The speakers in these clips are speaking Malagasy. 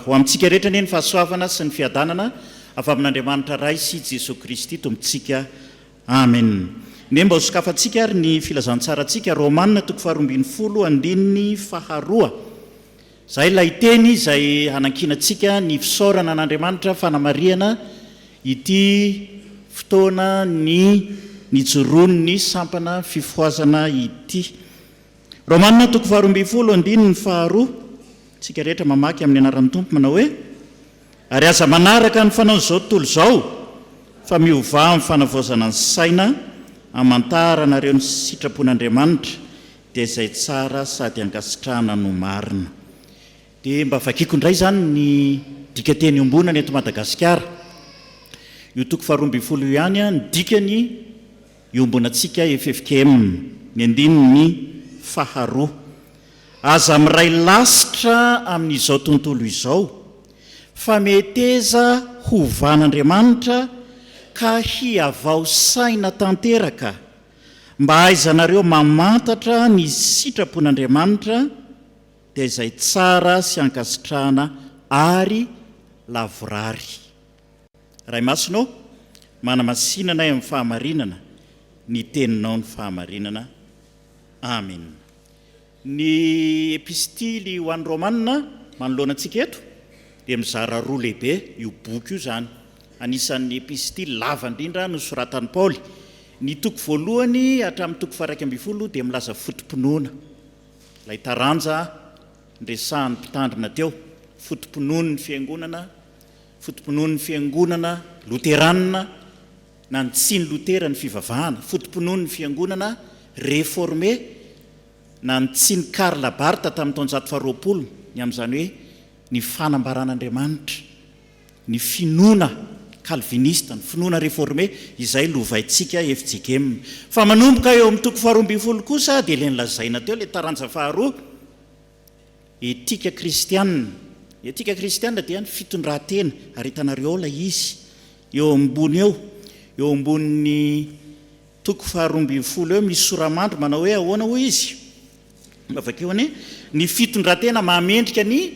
Ho amintsika rehetra anie ny fahasoavana sy ny fiadanana avy amin'Andriamanitra Ray sy Jesoa Kristy Tompontsika. Amen. Anie mba ho sokafantsika ary ny filazantsarantsika, Romana toko faharoa ambin'ny folo andininy faharoa. Izay ilay teny izay hanankinantsika ny fisaorana an'Andriamanitra fanamarihana ity fotoana ny nijoroan'ny sampana fifohazana ity. Romana toko faharoa ambin'ny folo andininy faharoa, Isika rehetra mamaky amin'ny anaran'ny Tompo manao hoe, Ary aza manaraka ny fanaon'izao tontolo izao, fa miovà amin'ny fanavaozana ny saina, hamantaranareo ny sitrapon'Andriamanitra, dia izay tsara sady ankasitrahana no marina. Dia mba vakiako indray izany ny dikateny iombonana eto Madagasikara. Io toko faharoa ambin'ny folo io ihany ny dikany iombonantsika ffkm, ny andininy faharoa. Aza miray lasitra amin'izao tontolo izao fa meteza hovàn'Andriamanitra ka hihavao saina tanteraka Mba hahaizanareo mamantatra ny sitrapon'Andriamanitra, dia izay tsara sy ankasitrahana ary lavorary. Ray Masina ô, manamasinana ahy amin'ny fahamarinana, ny Teninao no fahamarinana. Amena. Ny Epistily ho an'ny Romana manoloana antsika eto dia mizara roa lehibe io boky io izany. Anisan'ny Epistily lava indrindra nosoratan'i Paoly. Ny toko voalohany hatramin'ny toko faha-iraika ambin'ny folo dia milaza foto-pinoana, ilay taranja niresahan'ny Mpitandrina teo, foto-pinoan'ny Fiangonana, foto-pinoan'ny Fiangonana Loteranina, Nanitsian'i Lotera ny fivavahana, foto-pinoan'ny Fiangonana Reforme, nanitsian'i Karl Barth tamin'ny taonjato faharoapolo, ny amin'izany hoe ny fanambaran'Andriamanitra, ny finoana kalvinista, ny finoana reforme, izay lovaintsika FJGM. Fa manomboka eo amin'ny toko faharoa ambin'ny folo kosa dia ilay nolazaina teo, ilay taranja faharoa, Etika kristiana, Ny etika kristiana dia ny fitondran-tena, ary hitanareo ao ilay izy eo ambony eo, eo ambonin'ny toko faharoa ambin'ny folo eo misy sora-mandry manao hoe ahoana hoy izy? Mba vakio anie, Ny fitondran-tena maha mendrika ny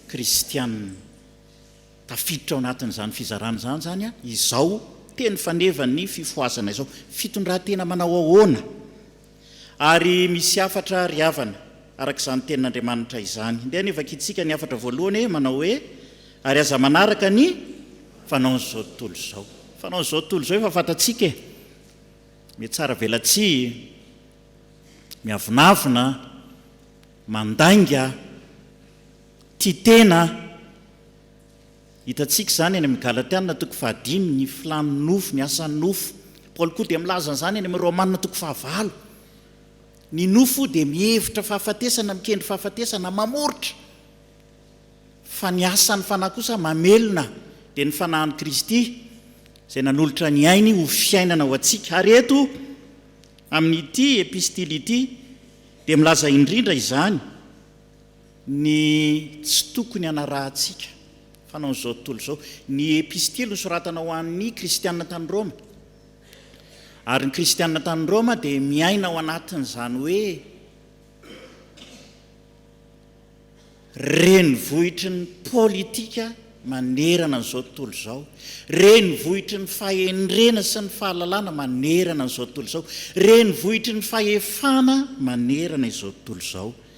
kristiana. Tafiditra ao anatin'izany fizarana izany izany izao teny fanevan'ny fifohazana izao. Fitondran-tena manao ahoana? Ary misy hafatra ry havana, araka izany Tenin'Andriamanitra izany. Ndeha anie vakintsika ny hafatra voalohany e, manao hoe, Ary aza manaraka ny fanaon'izao tontolo izao. Ny fanaon'izao tontolo izao efa fantatsika e, mihatsara velatsihy, miavonavona, mandainga, tia tena. Hitantsika izany any amin'ny Galatiana toko fahadimy, ny filàn'ny nofo, ny asan'ny nofo. Paoly koa dia milaza an'izany any amin'ny Romana toko fahavalo. Ny nofo dia mihevitra fahafatesana, mikendry fahafatesana, mamoritra. Fa ny asan'ny Fanahy kosa mamelona, dia ny Fanahin'i Kristy izay nanolotra ny ainy ho fiainana ho antsika. Ary eto amin'ity epistily ity dia milaza indrindra izany. Ny tsy tokony hanarahantsika fanaon'izao tontolo izao. Ny Epistily nosoratana ho an'ny Kristianina tany Roma. Ary ny Kristianina tany Roma dia miaina ao anatin'izany hoe renivohitry ny politika manerana an'izao tontolo izao, renivohitry ny fahendrena sy ny fahalalana manerana an'izao tontolo izao, renivohitry ny fahefana manerana izao tontolo izao.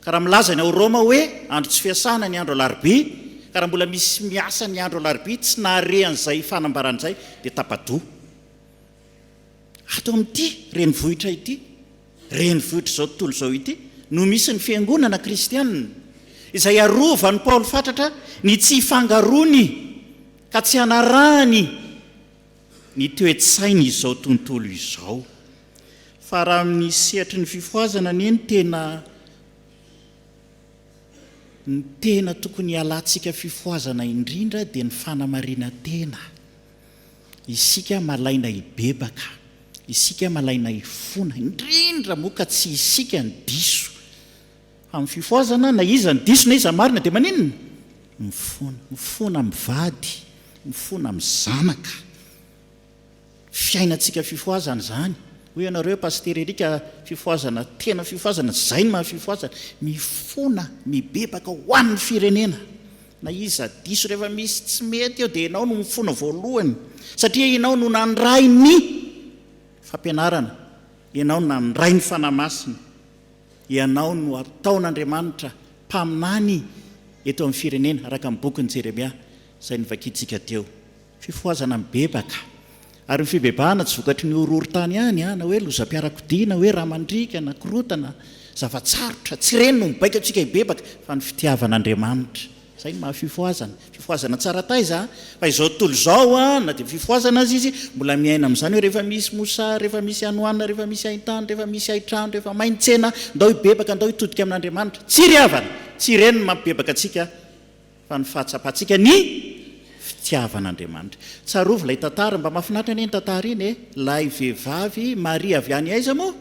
Ka raha milaza ny ao Roma hoe andro tsy fiasana ny andro alarobia, ka raha mbola misy miasa ny andro alarobia tsy nahare an'izay fanambarana izay dia tapa-doha. Ato amin'ity renivohitra ity, renivohitr'izao tontolo izao ity, no misy ny fiangonana kristianina, izay arovan'i Paoly fatratra ny tsy hifangaroany ka tsy hanarahany, ny toe-tsain' izao tontolo izao. Fa raha amin' ny sehatry ny fifohazana anie ny tena ny tena tokony hialantsika fifohazana indrindra dia ny fanamarinan-tena. Isika malaina hibebaka, isika malaina hifona, indrindra moa ka tsy isika no diso Amin'ny fifohazana, na iza no diso na iza no marina dia maninona? Mifona. Mifona amin'ny vady, mifona amin'ny zanaka. Fiainantsika fifohazana izany. Hoy ianareo hoe Pasitera Eric ka fifohazana tena fifohazana, izay no maha fifohazana. Mifona, mibebaka ho an'ny firenena. Na iza diso, rehefa misy tsy mety eo dia ianao no mifona voalohany satria ianao no nandray ny fampianarana, ianao no nandray ny Fanahy Masina. Ianao no ataon'Andriamanitra mpaminany eto amin'ny firenena, araka ny bokin'i Jeremia izay novakiantsika teo. Fifohazana mibebaka. Ary ny fibebahana tsy vokatry ny horohorontany ihany, na hoe lozam-piarakodia, na hoe rà mandriaka, na korontana, zava-tsarotra, tsy ireny no mibaiko antsika hibebaka, fa ny fitiavan'Andriamanitra. Izay ny maha fifohazana. Fifohazana tsara taiza fa izao tontolo izao na dia fifohazana aza izy mbola miaina amin'izany hoe rehefa misy mosary, rehefa misy hanoanina, rehefa misy haintany, rehefa misy haitrano, rehefa may ny tsena, ndao hibebaka, ndao hitodika amin'Andriamanitra. Tsy ry havana, tsy ireny no mampibebaka antsika fa ny fahatsapantsika ny fitiavan'Andriamanitra. Tsarovy ilay tantara, mba mahafinaritra anie iny tantara iny e, ilay vehivavy Maria avy any aiza moa?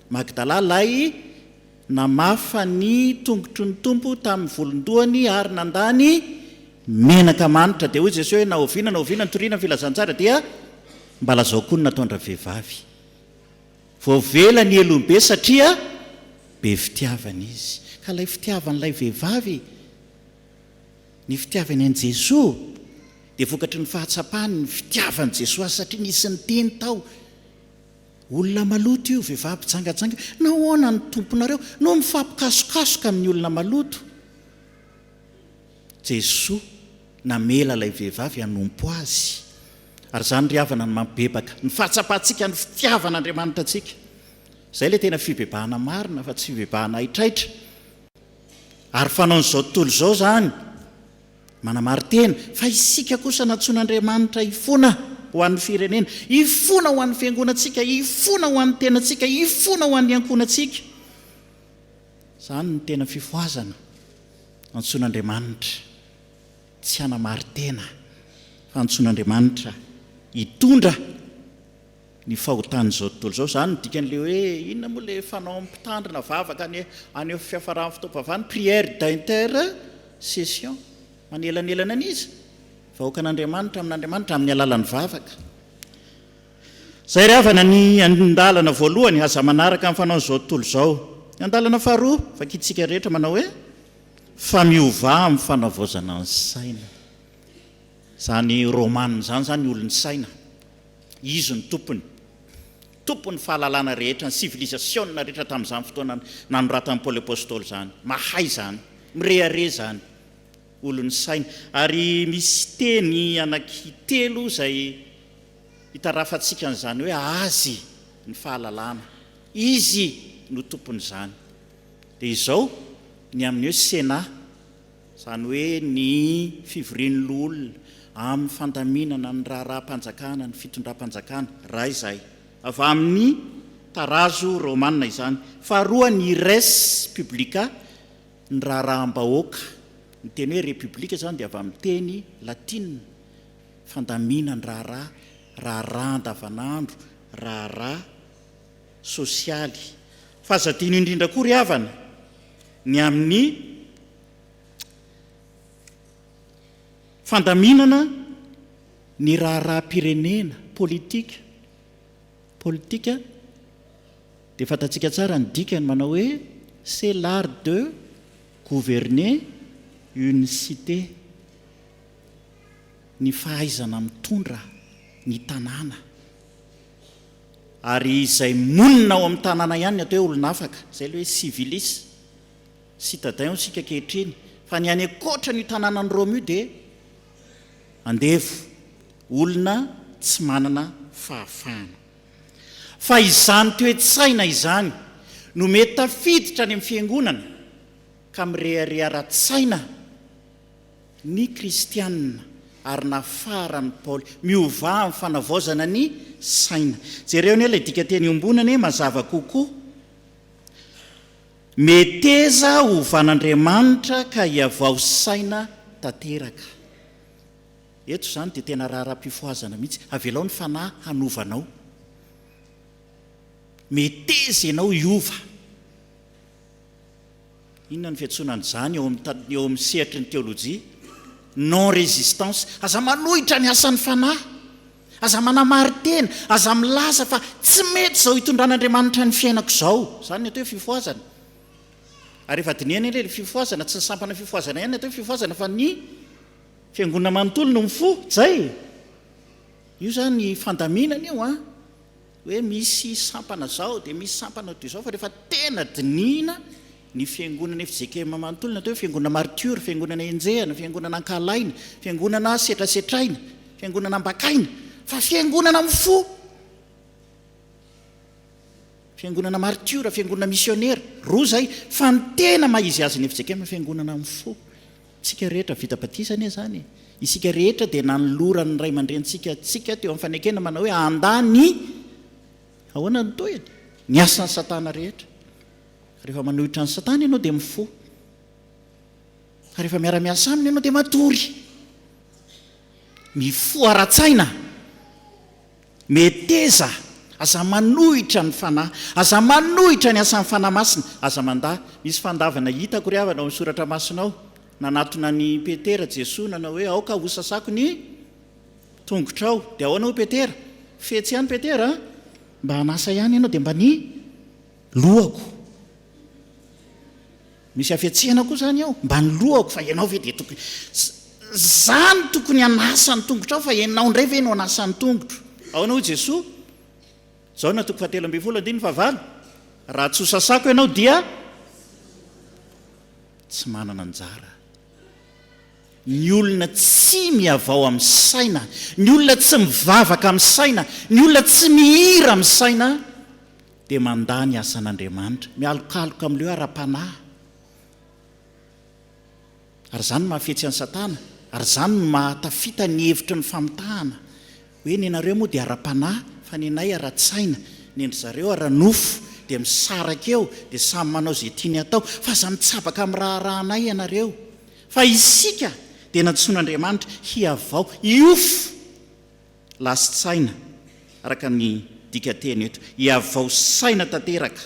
Magdala, ilay. Namafa ny tongotry ny Tompo tamin'ny volon-dohany ary nandà ny menaka manitra. Dia hoy Jesoa hoe, Na oviana na oviana nitoriana ny filazantsara dia mba lazao koa ny nataon-dravehivavy. Voavela ny helony be satria be fitiavana izy. Ka ilay fitiavan'ilay vehivavy ny fitiavany an'i Jesoa dia vokatry ny fahatsapany ny fitiavan'i Jesoa azy satria nisy niteny tao Olona maloto io, vehivavy mpijangajanga io. Nahoana ny Tomponareo no mifampikasokasoka amin'ny olona maloto? Jesoa namela ilay vehivavy hanompo Azy. Ary izany ry havana no mampibebaka ny fahatsapantsika ny fitiavan'Andriamanitra antsika. Izay ilay tena fibebahana marina fa tsy fibebahana haitraitra. Ary fanaon'izao tontolo izao izany Manamari-tena fa isika kosa nantsoin'Andriamanitra hifona ho an'ny firenena, hifona ho an'ny fiangonantsika, hifona ho an'ny tenantsika, hifona ho an'ny ankohonantsika. Izany no tena fifohazana antsoin'Andriamanitra, tsy hanamari-tena fa antsoin'Andriamanitra hitondra ny fahotan'izao tontolo izao. Izany no dikan'ilay hoe inona moa ilay fanaon'ny mpitandrina vavaka any amin'ny fiafaran'ny fotoam-pivavahana, prière d'intercession, manelanelana an'iza? Vahoakan'Andriamanitra amin'Andriamanitra amin'ny alalan'ny vavaka. Izay ry havana ny andalana voalohany, aza manaraka ny fanaon'izao tontolo izao. Ny andalana faharoa, vakintsika rehetra manao hoe, fa miovà amin'ny fanavaozana ny saina. Izany Romana izany izany olon'ny saina. Izy no tompony, tompon'ny fahalalana rehetra, ny sivilizasiona rehetra tamin'izany fotoana nanoratan'i Paoly Apostoly izany. Mahay izany. Mirehareha izany. Olon'ny saina. Ary misy teny anaky telo izay itarafantsika an'izany hoe azy ny fahalalana. Izy no tompon'izany. Dia izao ny amin'ny hoe Sénat. izany hoe ny fivorian'ny loholona amin'ny fandaminana ny raharaham-panjakana, ny fitondram-panjakana, raha izay. Avy amin'ny tarazo romanina izany. Faharoa, ny res publica, ny raharaham-bahoaka. Ny teny hoe Republika izany dia avy amin'ny teny latinina, fandaminandraharaha, raharaha andavanandro, raharaha sosialy. Fa aza adino indrindra koa ry havana. ny amin'ny fandaminana ny raharaham-pirenena, politika, politika, dia fantatsika tsara ny dikany manao hoe c'est l'art de gouverner une cité, ny fahaizana mitondra ny tanàna. Ary izay monina ao amin'ny tanàna ihany ny atao hoe olon'afaka. Izay ilay hoe civilis, citadins isika ankehitriny. Fa ny any ankoatran'io tanànan'i Roma io dia andevo, olona tsy manana fahafahana. Fa izany toe-tsaina izany no mety tafiditra any amin'ny fiangonana ka mirehareha ara-tsaina. ny kristiana ary nafaran'i Paoly. Miovà amin'ny fanavaozana ny saina. Jereo anie ilay dikanteny iombonana anie mazava kokoa. Meteza hovan'Andriamanitra ka hiavao saina tanteraka. Eto izany dia tena raharaham-pifohazana mihitsy. Avelao ny Fanahy hanova anao. Meteza ianao hiova. Inona ny fiantsoana an'izany eo amin'ny eo amin'ny sehatry ny teolojia? Non résistance. Aza manohitra ny asan'ny Fanahy. Aza manamarin-tena. Aza milaza fa tsy mety izao itondran'Andriamanitra ny fiainako izao. Izany ny atao hoe fifohazana. Ary efa dinihana anie ilay fifohazana, tsy ny sampana fifohazana ihany ny atao hoe fifohazana fa ny Fiangonana manontolo no mifoha. Jay. Io izany fandaminana io an. hoe misy sampana zao dia misy sampana ho toy izao fa rehefa tena dinihina ny fiangonana efa jkm manontolo ny atao hoe fiangonana maritiora fiangonana enjehina fiangonana ankahalaina fiangonana setrasetraina fiangonana ambakaina fa fiangonana amin'ny fo fiangonana maritiora fiangonana misionera roa zay fa ny tena mahizy azy ny efa jkm fiangonana amin'ny fo Tsika rehetra vita batisa anie izany e! Isika rehetra dia nanoloran'ny ray aman-drenintsika antsika teo amin'ny fanekena manao hoe andà ny. Ahoana ny tohiny? Ny asan'i Satana rehetra. Rehefa manohitra an'i Satana ianao dia mifoha. Rehefa miara-miasa aminy ianao dia matory. Mifoha ara-tsaina. Meteza, aza manohitra ny Fanahy, aza manohitra ny asan'ny Fanahy Masina, aza mandà. Misy fandavana hitako ry havana ao amin'ny Soratra Masina ao. Nanatona an'i Petera Jesoa nanao hoe, aoka hosasako ny tongotrao. Dia ahoana hoy Petera? Fetsy ihany Petera a! Mba an'asa ihany ianao dia mba ny lohako. Misy hafetsena koa zany ao mba ny lohako fa ianao ve dia tokony za no tokony hanasa ny tongotrao fa ianao indray ve no hanasa ny tongotro? Ahoana hoy Jesoa? Jaona toko fahatelo ambin'ny folo andininy fahavalo, Raha tsy hosasako ianao dia tsy manana anjara. Ny olona tsy mihavao amin'ny saina, ny olona tsy mivavaka amin'ny saina, ny olona tsy mihira amin'ny saina, dia mandà ny asan'Andriamanitra, mialokaloka amin'ireo ara-panahy. Ary izany no mahafetsy an'i Satana, ary izany no mahatafita ny hevitry ny famitahana hoe nenareo moa dia ara-panahy fa nenay ara-tsaina, nendry zareo ara-nofo, dia misaraka eo, dia samy manao izay tiany atao, fa aza mitsabaka amin'ny raharahanay ianareo, fa isika dia nantsoin'Andriamanitra hihavao hiofo. Lasin-tsaina, araka ny dikanteny eto, iavao saina tanteraka,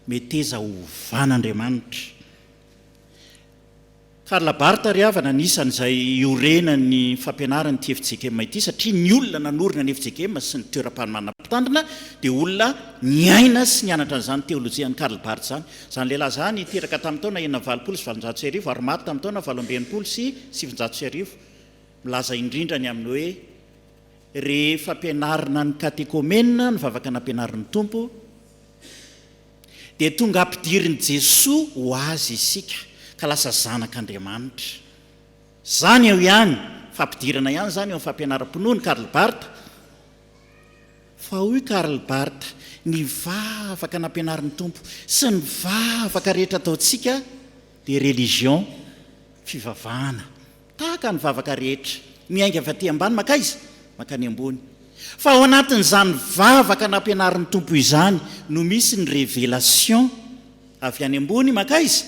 meteza ovan' Andriamanitra. Karl Barth ry havana, anisan' izay iorenan' ny fampianaran' ity FJKM ity, satria ny olona nanorina ny FJKM sy ny toeram-panomanana mpitandrina dia olona niaina sy nianatra an' izany teolojian' i Karl Barth izany. Izany lehilahy izany teraka tamin' ny taona enina amby valopolo sy valonjato sy arivo ary maty tamin' ny taona valo amby enimpolo sy sivinjato sy arivo. Milaza indrindra ny amin'ny hoe, rehefa ampianarina ny katekomena, ny vavaka nampianarin'ny Tompo, dia tonga ampidirin'i Jesoa ho Azy isika, ka lasa zanak'Andriamanitra. Izany eo ihany, fampidirana ihany izany eo amin'ny fampianaram-pinoan'i Karl Barth. Fa hoy Karl Barth, ny vavaka nampianarin'ny Tompo sy ny vavaka rehetra ataontsika dia religion, fivavahana. Tahaka ny vavaka rehetra, miainga avy aty ambany mankaiza? Mankany ambony. Fa ao anatin'izany vavaka nampianarin'ny Tompo izany no misy ny révélation avy any ambony mankaiza?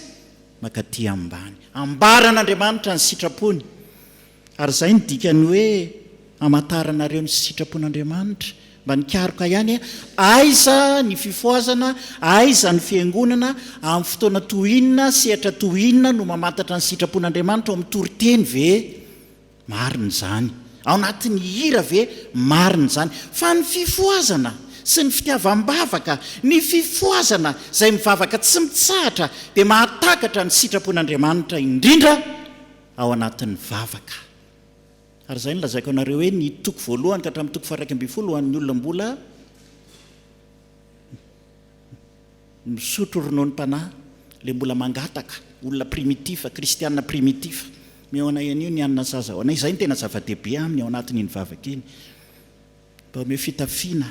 Mankaty ambany. Ambaran'Andriamanitra ny sitrapony. Ary izay no dikan'ny hoe Hamantaranareo ny sitrapon'Andriamanitra mba nikaroka ihany e, aiza ny fifohazana, aiza ny fiangonana, amin'ny fotoana toy inona, sehatra toy inona no mamantatra ny sitrapon'Andriamanitra, ao amin'ny toriteny ve? Marina izany. Ao anatin'ny hira ve? Marina izany. Fa ny fifohazana sy ny fitiavam-bavaka, ny fifohazana izay mivavaka tsy mitsahatra dia mahatakatra ny sitrapon'Andriamanitra indrindra ao anatin'ny vavaka. Ary izay no lazaiko anareo hoe ny toko voalohany ka hatramin'ny toko faharaika ambin'ny folo ho an'ny olona mbola misotro rononom-panahy, ilay mbola mangataka, olona primitif, kristiana primitif. Mihaona an'io ny anona saza haona. Izay no tena zava-dehibe aminy ao anatin'iny vavaka iny. Mba omeo fitafiana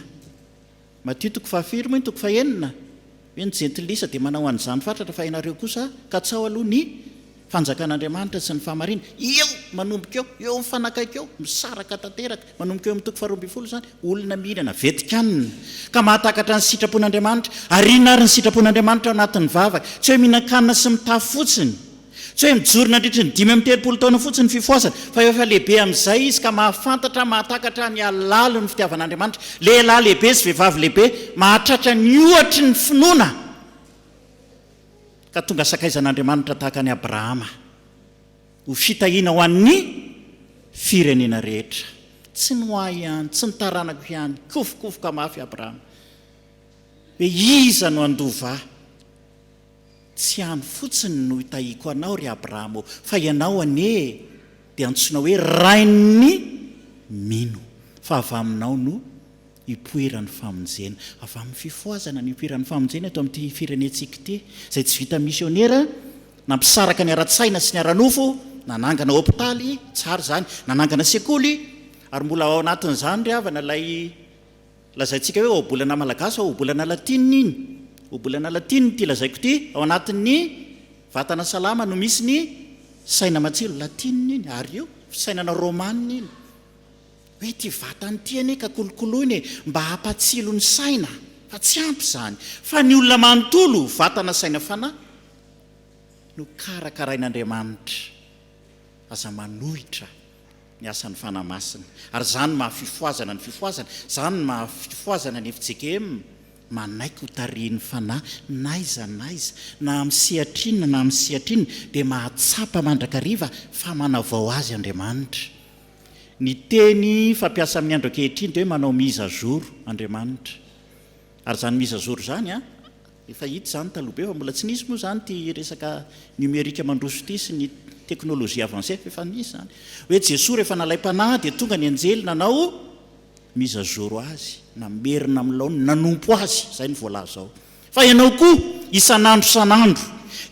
madio Toko fahafiry moa iny toko fahenina hoe ny jentilisa dia manao an'izany fatratra fa ianareo kosa katsao aloha ny fanjakan'Andriamanitra sy ny fahamarinany eo manomboka eo eo mifanakaiky eo misaraka tanteraka manomboka eo amin'ny toko faharoa ambin'ny folo izany olona mihinana vetikany ka mahatakatra ny sitrapon'Andriamanitra ariana ary ny sitrapon'Andriamanitra ao anatin'ny vavaka tsy hoe mihinan-kanina sy mitafy fotsiny Tsy hoe mijoro nandritry ny dimy amby telopolo taona fotsiny ny fifohazana, fa efa lehibe amin'izay izy ka mahafantatra, mahatakatra ny halalin'ny fitiavan'Andriamanitra. Lehilahy lehibe sy vehivavy lehibe mahatratra ny ohatry ny finoana ka tonga sakaizan'Andriamanitra tahaka an'i Abrahama, ho fitahiana ho an'ny firenena rehetra. Tsy ny ho ahy ihany, tsy ny taranako ihany, kofokofoka mafy Abrahama hoe iza no handova ahy. Tsy any fotsiny no itahiako anao, ry Abrahama ô, fa ianao anie dia antsoina hoe rain'ny mino, fa avy aminao no ipoiran'ny famonjena. Avy amin'ny fifohazana no ipoiran'ny famonjena eto amin'ity firenentsika ity, izay tsy vita misionera nampisaraka ny ara-tsaina sy ny ara-nofo, nanangana hopitaly, tsara izany, nanangana sekoly, ary mbola ao anatin'izany ry havana ilay. Lazaintsika hoe ohabolana malagasy fa ohabolana latina iny. Ohabolana latina ity lazaiko ity, ao anatin'ny vatana salama no misy ny saina matsilo. Latina iny, ary io fisainana romana iny. Hoe ity vatana ity anie ka kolokoloina e, mba hampatsilo ny saina, fa tsy ampy izany. Fa ny olona manontolo, vatana saina fanahy, no karakarain'Andriamanitra. Aza manohitra. ny asan'ny Fanahy Masina. Ary izany no maha-fifohazana ny fifohazana, izany no maha-fifohazana ny fjkm, manaiky ho tarihin'ny Fanahy n'aiza n'aiza, na amin'ny sehatra inona na amin'ny sehatra inona, dia mahatsapa mandrakariva fa manavao azy Andriamanitra. Ny teny fampiasa amin'ny andro ankehitriny dia hoe manao mise à jour Andriamanitra. Ary izany mise à jour izany an, efa hita izany taloha be fa mbola tsy nisy moa izany ity resaka numérique mandroso ity sy ny technologie avancée fa efa nisy izany. Hoe Jesoa rehefa nalaim-panahy dia tonga ny anjely nanao mise à jour azy, namerina amin'ny laoniny, nanompo azy, izay no voalaza ao. Fa ianao koa isan'andro isan'andro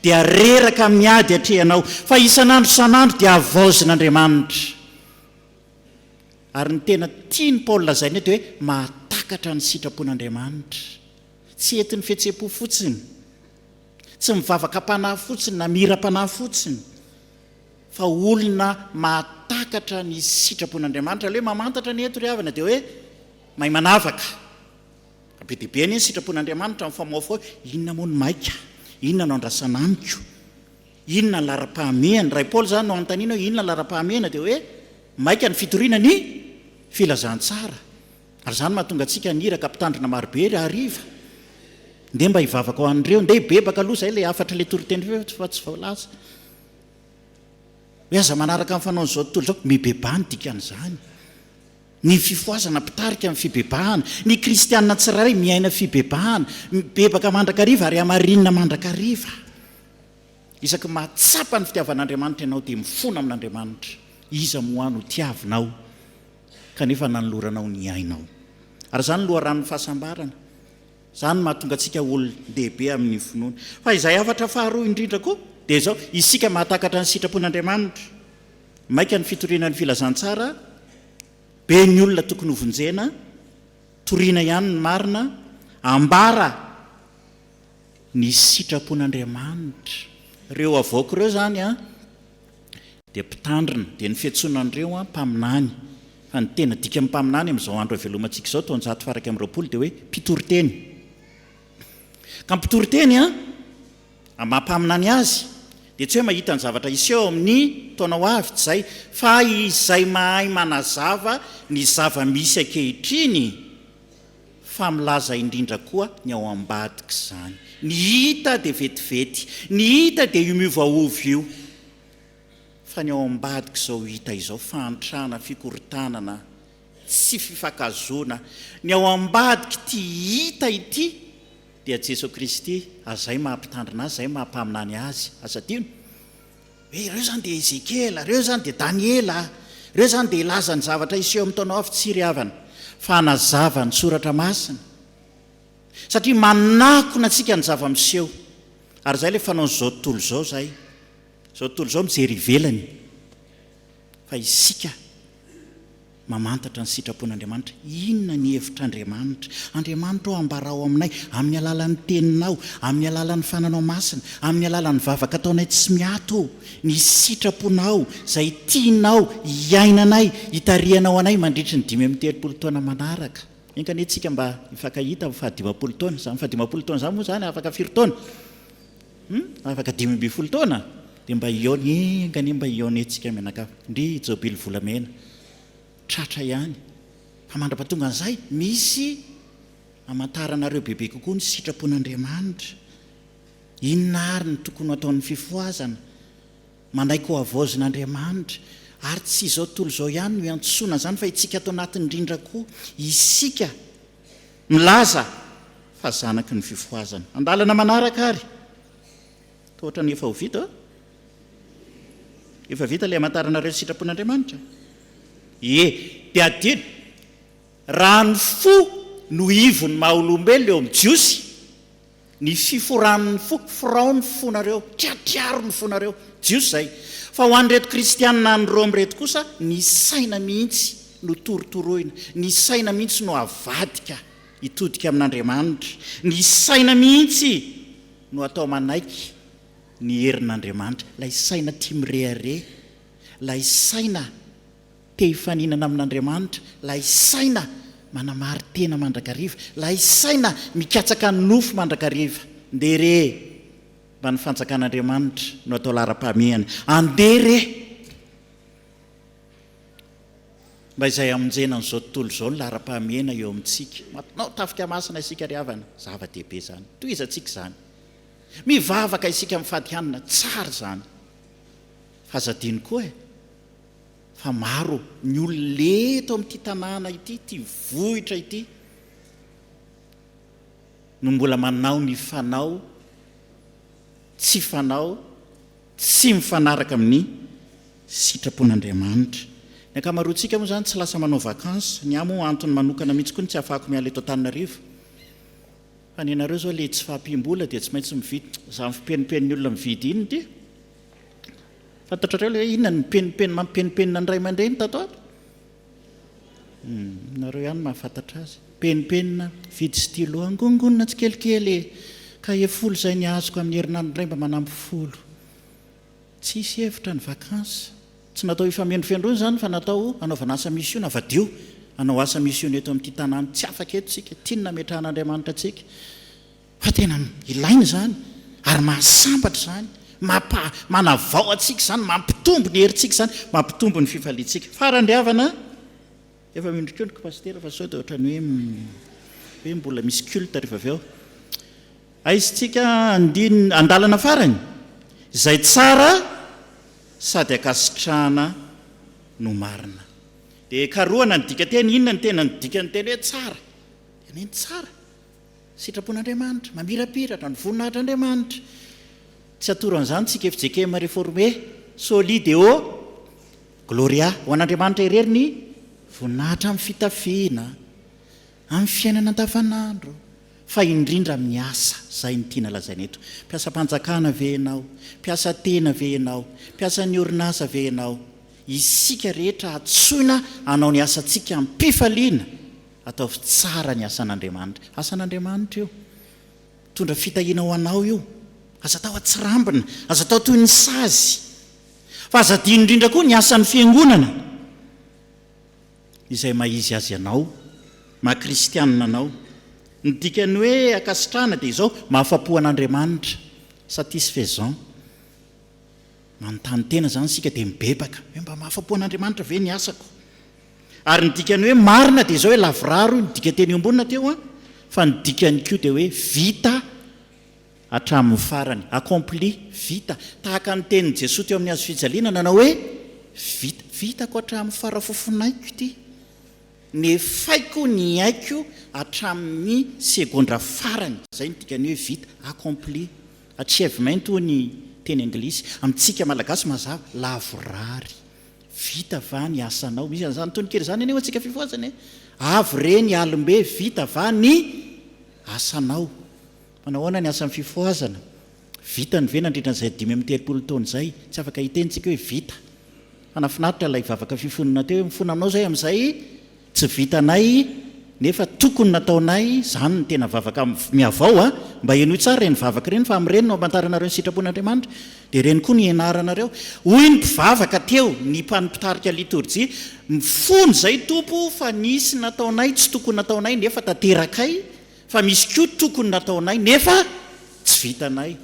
dia reraka amin'ny ady atrehanao, fa isan'andro isan'andro dia havaozin'Andriamanitra. Ary ny tena tian'i Paoly lazaina eto dia hoe mahatakatra ny sitrapon'Andriamanitra. Tsy entin'ny fihetseham-po fotsiny, tsy mivavaka am-panahy fotsiny na mihiram-panahy fotsiny, fa olona mahatakatra ny sitrapon'Andriamanitra. Ilay hoe mamantatra ny eto ry havana dia hoe mahay manavaka. Be dia be anie ny sitrapon'Andriamanitra mifamohafoha hoe inona moa no maika, inona no andrasana amiko. Inona ny laharam-pahamehany? Raha i Paoly izany no anontaniana hoe inona ny laharam-pahamehana dia hoe maika ny fitoriana ny filazantsara. Ary izany mahatonga antsika haniraka mpitandrina marobe ry hariva. Ndeha mba hivavaka ho an'ireo. Ndeha hibebaka aloha izay ilay hafatr'ilay toriteny feo fa tsy voalaza. Hoe aza manaraka ny fanaon'izao tontolo izao. Mibebaha ny dikan'izany. Ny fifohazana mpitarika ny fibebahana. Ny kristiana tsirairay miaina fibebahana. Mibebaka mandrakariva ary hamarinina mandrakariva. Isaky mahatsapa ny fitiavan'Andriamanitra ianao dia mifona amin'Andriamanitra. Iza moa ahy no tiavinao kanefa nanoloranao ny ainao? Ary izany no loharanon'ny fahasambarana. Izany no mahatonga antsika olon-dehibe amin'ny finoana. Fa izay hafatra faharoa indrindra koa dia izao, isika mahatakatra ny sitrapon'Andriamanitra. Maika ny fitoriana ny filazantsara, be ny olona tokony hovonjena, toriana ihany ny marina, ambara Ny sitrapon'Andriamanitra. Ireo havaoko ireo izany dia mpitandrina, dia ny fiantsoana an'ireo an, mpaminany. Fa ny tena dikan'ny mpaminany amin'izao andro avelomantsika izao, taonjato faha iraika amby roapolo, dia hoe mpitoriteny. Ka ny mpitoriteny an, amin'ny maha mpaminany azy, dia tsy hoe mahita ny zavatra hiseho ao amin'ny taona ho avy, tsy izay, fa izay mahay manazava ny zava-misy ankehitriny. fa milaza indrindra koa ny ao ambadik'izany. Ny hita dia vetivety, ny hita dia io miovaova io, fa ny ao ambadik'izao hita izao, fahantrana, fikorontanana, tsy fifankahazoana, ny ao ambadik'ity hita ity dia Jeso Kristy, azay maha-Mpitandrina Azy, zay maha-Mpaminany Azy, aza adino. Hoe ireo izany dia Ezekiela, ireo izany dia Daniela, ireo izany dia hilaza ny zavatra hiseho amin'ny taona avy tsy ry havana, fa hanazava ny Soratra Masina, satria manakona antsika ny zava-miseho. Ary izay ilay fanaon'izao tontolo izao izay. Izao tontolo izao mijery ivelany, fa isika. Mamantatra ny sitrapon'Andriamanitra. Inona ny hevitr'Andriamanitra? Andriamanitra ô, ambarao aminay, amin'ny alalan'ny Teninao, amin'ny alalan'ny Fananao Masina, amin'ny alalan'ny vavaka ataonay tsy miato ô, ny sitraponao, izay tianao hiainanay, hitarihanao anay mandritry ny dimy amby telopolo taona manaraka. Enga anie tsika mba hifankahita amin'ny fahadimampolo taona. Izany fahadimampolo taona izany moa izany afaka firy taona? Hum afaka dimy ambin'ny folo taona dia mba hihaona enga anie mba hihaona etsika mianakavy ndry jobily volamena tratra ihany fa mandrapatongan'izay misy amantaranareo bebe kokoa ny sitrapon'Andriamanitra inona ary ny tokony ho ataon'ny fifohazana manaiky ho havaozin'Andriamanitra ary tsy izao tontolo izao ihany no hiantsoana an'izany fa itsika ato anatin'ny rindra koa isika milaza fa zanaky ny fifohazana. Andalana manaraka ary. Toa ohatran'ny efa ho vita oh. Efa vita ilay hamantaranareo ny sitrapon'Andriamanitra. Ie, dia adino. Raha ny fo no ivon'ny maha-olombelona eo amin'ny Jiosy, Ny fiforan'ny foko, forao ny fonareo, triatriaro ny fonareo, Jiosy izay. Fa ho an'ireto Kristianina any Rome ireto kosa, ny saina mihitsy no torotoroina, ny saina mihitsy no avadika hitodika amin'Andriamanitra, ny saina mihitsy no atao manaiky ny herin'Andriamanitra, ilay saina tia mirehareha, ilay saina. Te hifaninana amin'Andriamanitra, lay saina manamari-tena mandrakariva, lay saina mikatsaka ny nofo mandrakariva. Ndeha re e! Mba ny fanjakan'Andriamanitra no atao laharam-pahamehana. Andeha re e! Mba izay hamonjena an'izao tontolo izao ny laharam-pahamehana eo amintsika. Manao tafika masina isika ry havana, zava-dehibe izany. Tohizantsika izany. Mivavaka isika mifady hanina, tsara izany. Aza adino koa e! fa maro ny olona eto amin'ity tanàna ity, ity vohitra ity, no mbola manao ny fanao tsy fanao, tsy mifanaraka amin'ny sitrapon'Andriamanitra. Ny ankamaroantsika moa izany tsy lasa manao vacances, ny ahy moa antony manokana mihitsy koa no tsy ahafahako miala eto Antananarivo, fa ny anareo izao ilay tsy fahampiam-bola dia tsy maintsy mividy, izany fipenipen'ny olona mividy iny dia, Fantatrareo ilay hoe inona ny mipenipenina mampipenipenina ny ray aman-dreny tato ato? Nareo ihany mahafantatra azy. Mipenipenina, mividy stylo, angonongonona tsikelikely e! Kahie folo izay ny azoko amin'ny herinandro indray mba manampy folo. Tsisy hevitra ny vacances. Tsy natao hifamendrofendroana izany fa natao hanaovana asa misiona. Avadiho hanao asa misiona eto amin'ity tanàna tsy afaka eto isika. Tiany nametrahan'Andriamanitra antsika. Fa tena ilaina izany ary mahasambatra izany, mampa, manavao antsika izany, mampitombo ny herintsika izany, mampitombo ny fifaliantsika. Farany ry havana, efa mino koa ny ko Pasitera fa sao dia ohatran'ny hoe hoe mbola misy culte rehefa avy eo. Aizintsika andin, andalana farany, izay tsara sady ankasitrahana no marina. Dia karohana ny dikanteny, inona ny tena ny dikanteny hoe tsara? Tena hoe ny tsara? Sitrapon'Andriamanitra, mamirapiratra, ny voninahitr'Andriamanitra. Tsy hatoro an'izany tsika fjkm reformé, soli deo gloria, ho an'Andriamanitra irery ny voninahitra amin'ny fitafiana, amin'ny fiainana andavanandro, fa indrindra amin'ny asa, izay no tiana lazaina eto. Mpiasam-panjakana ve ianao? Mpiasa tena ve ianao? Mpiasan'ny orinasa ve ianao? Isika rehetra antsoina hanao ny asantsika amim-pifaliana. Ataovy tsara ny asan'Andriamanitra. Asan'Andriamanitra io. Mitondra fitahiana ho anao io. Aza atao atsirambina. Aza atao toy ny sazy. Fa aza adino indrindra koa ny asan'ny Fiangonana. Izay maha izy azy anao, maha kristianina anao. Ny dikan'ny hoe ankasitrahana dia izao, mahafa-po an'Andriamanitra. Satisfaisant. Manontany tena izany isika dia mibebaka hoe mba mahafa-po an'Andriamanitra ve ny asako? Ary ny dikan'ny hoe marina dia izao hoe lavorary hoy ny dikanteny eo ambonina teo an, fa ny dikany koa dia hoe vita hatramin'ny farany, accompli, vita, tahaka ny tenin'i Jesoa teo amin'ny hazofijaliana nanao hoe vita, vitako hatramin'ny farafofonaiko ity. Nefaiko ny aiko hatramin'ny segondra farany. Izay no dikan'ny hoe vita, accompli. Achievement hoy ny teny anglisy. Amintsika malagasy mazava, lavorary. Vita va ny asanao? Misy an'izany tononkira izany anie ho antsika fifohazana e! Avy re ny alim-be, vita va ny asanao? Manao ahoana ny asan'ny fifohazana? Vitany ve nandritra izay dimy amby telopolo taona izay? Tsy afaka hiteny tsika hoe vita. Fa nafinaritra ilay vavaka fifonona teo hoe mifona aminao izay amin'izay tsy vitanay nefa tokony nataonay izany ny tena vavaka mihavao a! Mba henoy tsara ireny vavaka ireny fa amin'ireny no hamantaranareo ny sitrapon'Andriamanitra dia ireny koa no hianaranareo. Hoy ny mpivavaka teo, ny mpitarika litorjia, Mifona izay Tompo fa nisy nataonay tsy tokony nataonay nefa tanterakay Fa misy koa tokony nataonay nefa tsy vitanay.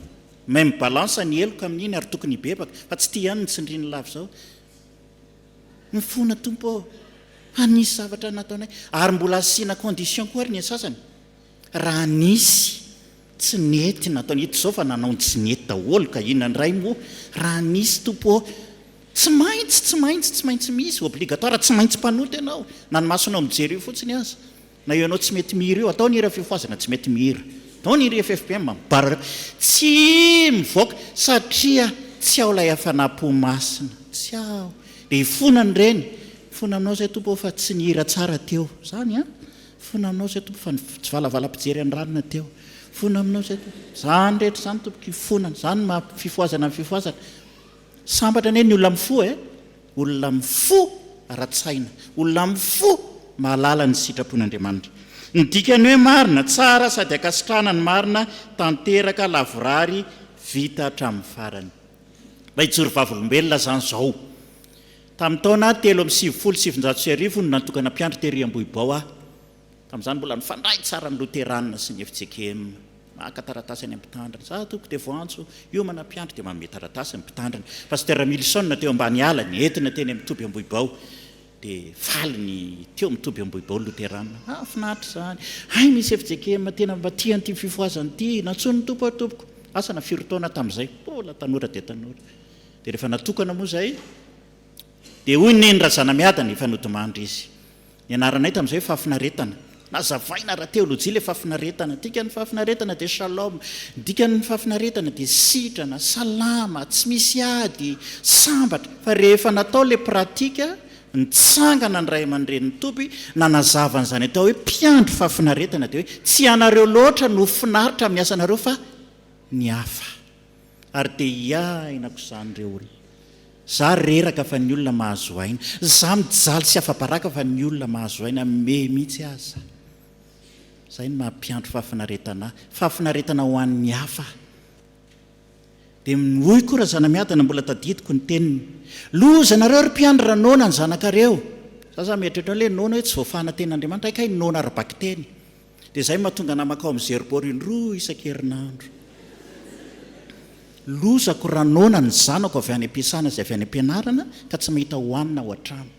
Même balance ny heloka amin'iny ary tokony hibebaka fa tsy ity ihany no tsindriany lava izao. Mifona Tompo ô! Fa nisy zavatra nataonay. Ary mbola asiana condition koa ary ny sasany. Raha nisy tsy nety nataonay. Ito izao fa nanao ny tsy nety daholo ka inona indray moa? Raha nisy Tompo ô! Tsy maintsy, tsy maintsy, tsy maintsy misy. Obligatoire, tsy maintsy mpanota ianao na ny masonao mijery io fotsiny aza. Na io anao tsy mety mihira io, atao ny hira fiofohazana tsy mety mihira. Atao ny hira FFPM mibarara eo. Tsy mivoaka satria tsy ao ilay hafanam-po masina. Tsy ao. Dia hifona ny reny. Mifona aminao izay Tompo ô fa tsy nihira tsara teo. Izany an. Mifona aminao izay Tompo fa ny tsivalavalapijery anranona teo. Mifona aminao izay Tompo. Izany rehetra izany Tompoko, hifona. Izany no maha fifohazana ny fifohazana. Sambatra anie ny olona mifoha e! Olona mifoha ara-tsaina, olona mifoha mahalala ny sitrapon'Andriamanitra. Ny dikan'ny hoe marina, tsara sady ankasitrahana ny marina, tanteraka, lavorary, vita hatramin'ny farany. Mba hijoro vavolombelona izany izao. Tamin'ny taona telo amby sivifolo sy sivinjato sy arivo no natokana mpiandry tery Ambohibao aho. Tamin'izany mbola nifandray tsara ny Loterana sy ny FCKM. Maka taratasy any amin'ny Mpitandrina. Izaho tompoko dia voantso hiomana mpiandry dia manome taratasy ny Mpitandrina. Pasitera Milson teo Ambaniala nentina teny amin'ny toby Ambohibao. Dia faly ny teo amin'ny toby Ambohibao Loterana. Mahafinaritra izany. Hay misy FCKM tena mba tia an'ity fifohazana ity. Nantsoin'ny Tompo aho tompoko. Asa na firy taona tamin'izay. Mbola tanora dia tanora. Dia rehefa natokana moa izay dia hoy ny Neny Razanamiadana efa nodimandry izy. Nianaranay tamin'izay hoe fahafinaretana. Nazavaina ara-teolojia ilay fahafinaretana. Ny dikan'ny fahafinaretana dia shalom. Ny dikan'ny fahafinaretana dia sitrana, salama, tsy misy ady, sambatra. Fa rehefa natao ilay pratika, nitsangana ny ray aman-drenin'i Toby, nanazava an'izany atao hoe mpiandry fahafinaretana dia hoe tsy ianareo loatra no finaritra amin'ny asanareo fa ny hafa. ary dia hiaina akoa izany ireo olona. Za reraka fa ny olona mahazo aina. Za mijaly sy afa-baraka fa ny olona mahazo aina me mihitsy aza. Izay no mampiantry fahafinaretana ahy. Fahafinaretana ho an'ny hafa. Dia hoy koa Razanamiadana mbola tadidiko ny teniny, Loza anareo ry mpiandry raha noana ny zanakareo. Za zany mieritreritra hoe noana hoe tsy voafahan'ny tenin'Andriamanitra hay kay noana ara-bakiteny. Dia izay no mahatonga namako ao amin'ny Zerbo indroa isan-kerinandro. Lozako raha noana ny zanako avy any am-piasana sy avy any am-pianarana ka tsy mahita hohanina ao an-trano.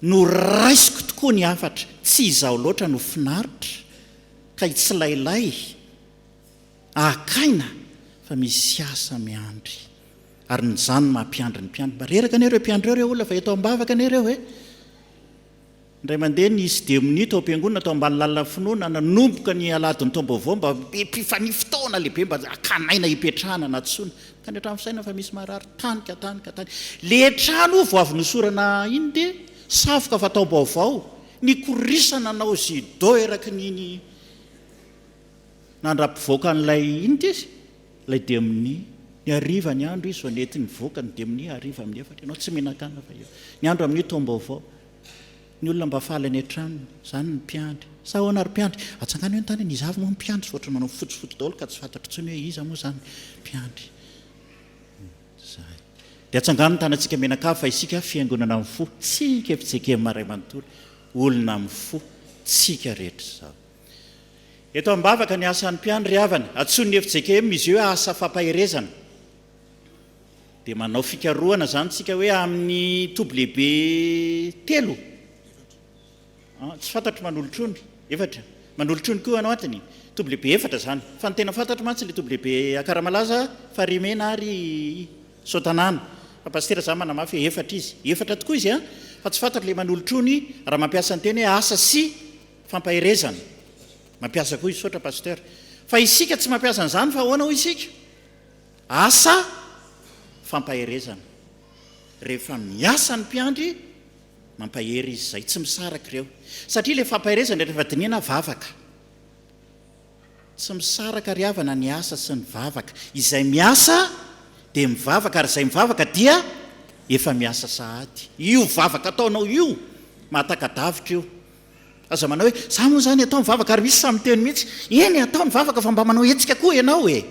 Noraisiko tokoa ny hafatra, tsy izaho loatra no finaritra ka hitsilailay haka aina fa misy asa miandry. Ary ny zany no maha mpiandry ny mpiandry mba reraka anie ireo mpiandry ireo re olona fa eto am-bavaka anie ireo e! Indray mandeha nisy dia minia tao am-piangonana tao ambany lalana finoana nanomboka ny aladin'ny taom-baovao mba mpifannia fotoana lehibe mba hakana aina hipetrahana na tsoina ka ny hatramin'ny fisainana fa misy marary tany ka tany ka tany le trano oa vao avy nosorana iny dia savoka fa taom-baovao nikorisana nanao judo eraky ny ny nandra-pivoaka an'ilay inona izy Ilay dia amin'ny ny hariva ny andro izy vao nety nivoaka ny dia amin'ny hariva amin'ny efatra ianao tsy mihinan-kanina fa eo ny andro amin'ny taom-baovao ny olona mba faly any an-tranony izany ny mpiandry sa ahoana ry mpiandry atsangano eny tany eny iza avy moa ny mpiandry tsy ohatran'ny manao fotsifotsy daholo ka tsy fantatro intsony hoe iza moa izany mpiandry izay dia atsangano ny tanantsika mianakavy fa isika fiangonana amin'ny fo tsika fitsekevina iray manontolo olona amin'ny fo tsika rehetra izao Eto am-bavaka ny asan'ny mpiandry havana. Antsoin'ny fjkm izy io hoe asa fampaherezana. Dia manao fikarohana izany isika hoe amin'ny toby lehibe telo, tsy fantatro manolotra ony, efatra, manolotra ony koa ianao ato ny toby lehibe efatra izany. Fa ny tena fantatro mantsy ilay toby lehibe Akaramalaza, Farimena ary Soatanàna. Fa Pasitera izany manamafy hoe efatra izy. Efatra tokoa izy an! Fa tsy fantatro ilay manolotra ony raha mampiasa ny teny hoe asa sy fampaherezana mampiasa koa hisaotra pasteur fa isika tsy mampiasa an'izany fa ahoana hoy isika asa fampaherezana rehefa miasa ny mpiandry mampahery izy izay tsy misaraka ireo satria le fampaherezana rehefa dinihana vavaka tsy misaraka ry havana ny asa sy ny vavaka izay miasa dia mivavaka ary izay mivavaka dia efa miasa sahady io vavaka ataonao io mahataka-davitra io Aza manao hoe, za moa zany atao mivavaka ary misy sahy miteny mihitsy, eny atao ny vavaka fa mba manao hetsika koa ianao e!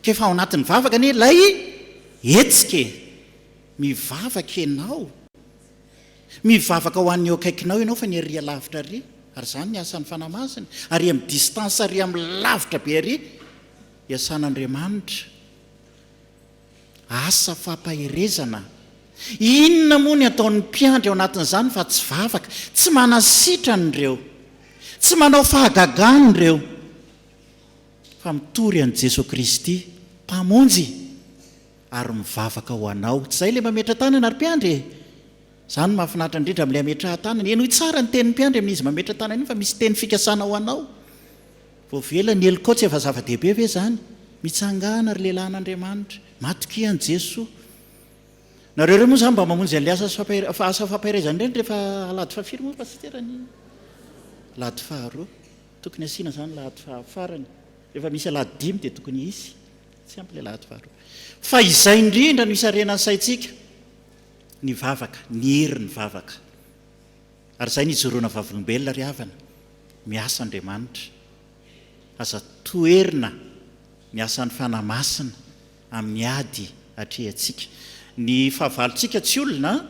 K'efa ao anatin'ny vavaka anie ilay hetsika e! Mivavaka ianao, mivavaka ho an'ny eo akaikinao ianao fa ny arỳ alavitra arỳ, ary zany ny asan'ny Fanahy Masina, arỳ amin'ny distance arỳ amin'ny lavitra be arỳ, iasan'Andriamanitra. Asa fampaherezana! Inona moa ny ataon'ny mpiandry ao anatin'izany fa tsy vavaka? Tsy manasitrana ireo, tsy manao fahagagana ireo, fa mitory an'i Jesoa Kristy Mpamonjy ary mivavaka ho Anao. Tsy izay ilay mametra-tanana ry mpiandry e! Izany no mahafinaritra indrindra amin'ilay hametrahan-tanana. Henoy tsara ny tenin'ny mpiandry amin'izy mametra-tanana iny fa misy teny fikasana ho Anao. Voavela ny helokao tsy efa zava-dehibe ve izany? Mitsangàna ry lehilahin'Andriamanitra, matokia an'i Jesoa. Nareo ireo moa izany mba mamonjy an'ilay asa sy asa fampaherezana ireny rehefa alahady fahafiry moa Pasitera ny alahady faharoa? Tokony asiana izany alahady fahafarany. Rehefa misy alahady dimy dia tokony hisy. Tsy ampy ilay alahady faharoa. Fa izay indrindra no isarenan'ny saintsika, ny vavaka, ny herin'ny vavaka. Ary izay no ijoroana vavolombelona ry havana, miasa Andriamanitra. Aza toherina ny asan'ny Fanahy Masina amin'ny ady atrehantsika. Ny fahavalontsika tsy olona an!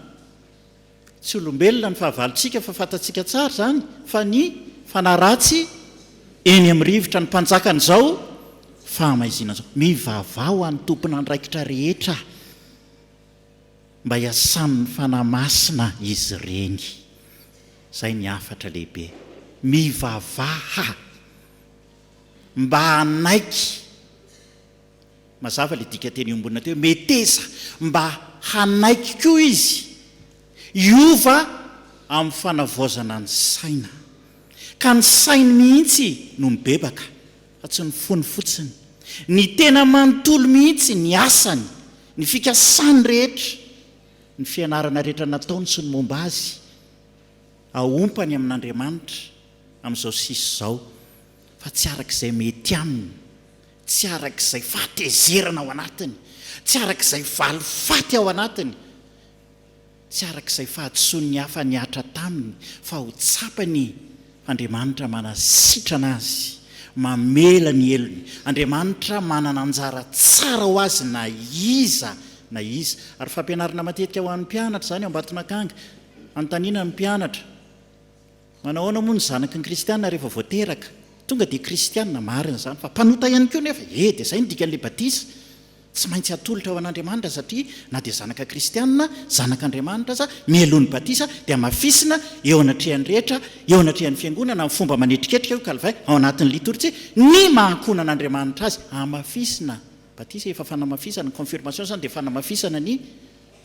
Tsy olombelona ny fahavalontsika fa fantatsika tsara izany fa ny fanahy ratsy eny amin'ny rivotra no mpanjakan'izao fahamaizinana izao. Mivavaha ho an'ny tompon'andraikitra rehetra. Mba hiasan'ny Fanahy Masina izy ireny. Izay ny hafatra lehibe. Mivavaha mba hanaiky, mazava ilay dikanteny eo ambonina teo hoe meteza, mba hanaiky koa izy hiova amin'ny fanavaozana ny saina. Ka ny sainy mihitsy no mibebaka. fa tsy ny fony fotsiny, ny tena manontolo mihitsy, ny asany, ny fikasany rehetra, ny fianarana rehetra nataony sy ny momba azy, aompany amin'Andriamanitra amin'izao sisa izao, fa tsy araka izay mety aminy, tsy araka izay fahatezerana ao anatiny, tsy araka izay valifaty ao anatiny, Tsy arak'izay fahadisoan'ny hafa nihatra taminy fa ho tsapany Andriamanitra manasitrana azy, mamela ny helony. Andriamanitra manana anjara tsara ho azy na iza na iza. Ary fampianarana matetika ho an'ny mpianatra izany ao Ambatonakanga. Anontaniana ny mpianatra. Manao ahoana moa ny zanaky ny kristiana rehefa vao teraka? Tonga dia kristiana, marina izany, fa mpanota ihany koa nefa e! Dia izay no dikan'ilay batisa, tsy maintsy atolotra ho an'Andriamanitra satria na dia zanaka kristiana, zanak'Andriamanitra aza, mialohan'ny batisa dia hamafisina eo anatrehan'ny rehetra, eo anatrehan'ny fiangonana, amin'ny fomba manetriketrika, hoy Calvin, ao anatin'ny litorjia, ny maha-ankohonan'Andriamanitra azy, hamafisina, batisa efa fanamafisana, ny confirmation izany dia fanamafisana ny.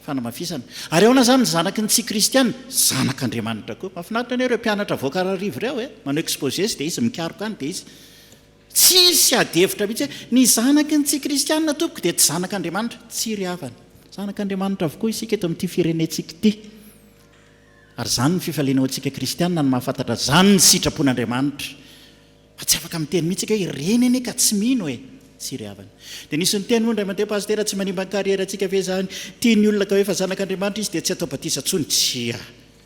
Fanamafisana. Ary ahoana izany ny zanaky ny tsy kristiana? Zanak' Andriamanitra koa. Mahafinaritra anie ireo mpianatra voakararivo ireo e! Manao exposé izy dia izy mikaroka any dia izy. Tsisy adihevitra mihitsy hoe, ny zanaky ny tsy kristiana tompoko dia tsy zanak' Andriamanitra. Tsia ry havana. Zanak' Andriamanitra avokoa isika eto amin'ity firenentsika ity. Ary izany ny fifaliana ho antsika kristiana ny mahafantatra izany ny sitrapon' Andriamanitra. Fa tsy afaka miteny mihitsy ika hoe ireny anie ka tsy mino e! Tsy ry havana. Dia nisy niteny moa indray mandeha, Pasitera, tsy manimba ny carrière ntsika ve izany? Tia ny olona ka hoe efa zanak'Andriamanitra izy dia tsy atao batisa intsony? Tsia!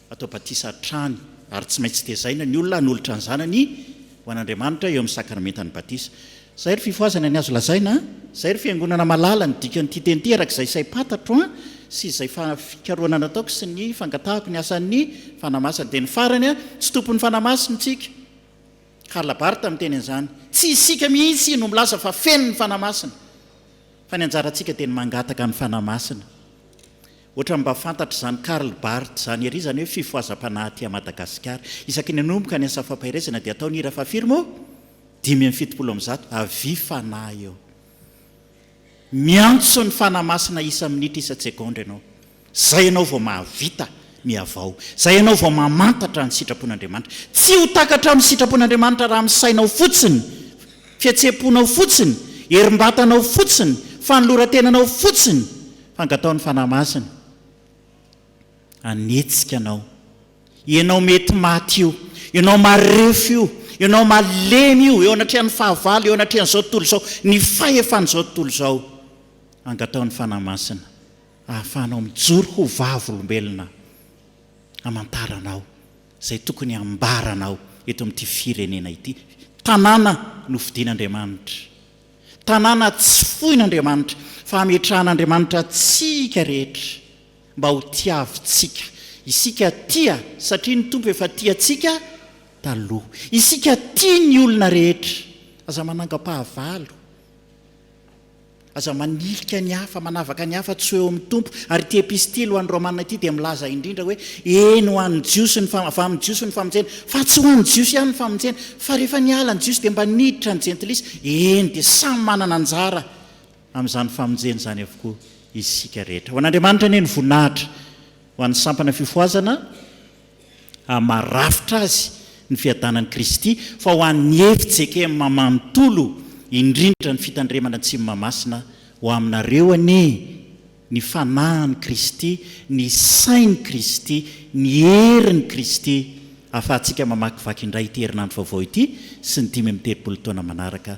Atao batisa hatrany ary tsy maintsy tezaina ny olona hanolotra ny zanany ho an'Andriamanitra eo amin'ny sakramentan'ny batisa. Izay ry fifohazana ny azo lazaina an! Izay ry fiangonana mahalala ny dikan'ity teny ity araka izay saim-patatro an! sy izay fa fikarohana nataoko sy ny fangatahako ny asan'ny fanahy masina. Dia ny farany an! Tsy tompon'ny fanahy masina intsika. Karl Barth miteny an'izany, Tsy isika mihitsy no milaza fa feno ny Fanahy Masina, fa ny anjarantsika dia ny mangataka ny Fanahy Masina. Ohatran'ny mba fantatr'izany Karl Barth izany ery izany hoe fifohazam-panahy aty à Madagasikara. Isaky ny hanomboka ny asa fampaherezana dia atao ny hira Fafiro moa? dimy amby fitopolo amin'ny zato, Avis Fanahy eo. Miantso ny Fanahy Masina isa minitra isan-tsegondra ianao. Izay ianao vao mahavita ny havao. Izay ianao vao mamantatra ny sitrapon'Andriamanitra. Tsy ho takatra amin'ny sitrapon'Andriamanitra raha amin'ny sainao fotsiny, fihetseham-ponao fotsiny, herim-batanao fotsiny, fanoloran-tenanao fotsiny, fa angataho ny Fanahy Masina. Hanetsika anao. Ianao mety maty io. Ianao marefo io. Ianao malemy io, eo anatrehan'ny fahavalo, eo anatrehan'izao tontolo izao, ny fahefan'izao tontolo izao. Angataho ny Fanahy Masina hahafahanao mijoro ho vavolombelona hamantaranao izay tokony hambaranao eto amin'ity firenena ity. Tanàna nofidin'Andriamanitra. Tanàna tsy foin'Andriamanitra fa hametrahan'Andriamanitra antsika rehetra. mba ho tiavintsika. Isika tia satria ny Tompo efa tia antsika taloha. Isika tia ny olona rehetra. Aza manangam-pahavalo. Aza manilika ny hafa, manavaka ny hafa tsy ho eo amin'ny Tompo. Ary ity epistily ho an'ny Romana ity dia milaza indrindra hoe, eny ho an'ny Jiosy ny, avy amin'ny Jiosy ny famonjena, fa tsy ho an'ny Jiosy ihany ny famonjena, fa rehefa niala ny Jiosy dia mba niditra ny Jentilisa, eny dia samy manana anjara amin'izany famonjena izany avokoa isika rehetra. Ho an'Andriamanitra anie ny voninahitra, ho an'ny sampana fifohazana ary maha rafitra azy ny fiadanan'i Kristy, fa ho an'ny FJKM manontolo indrindra ny fitandremana Atsimo Mahamasina, ho aminareo anie ny fanahin'i Kristy, ny sain'i Kristy, ny herin'i Kristy ahafahantsika mamakivaky indray ity herinandro vaovao ity sy ny dimy amby telopolo taona manaraka.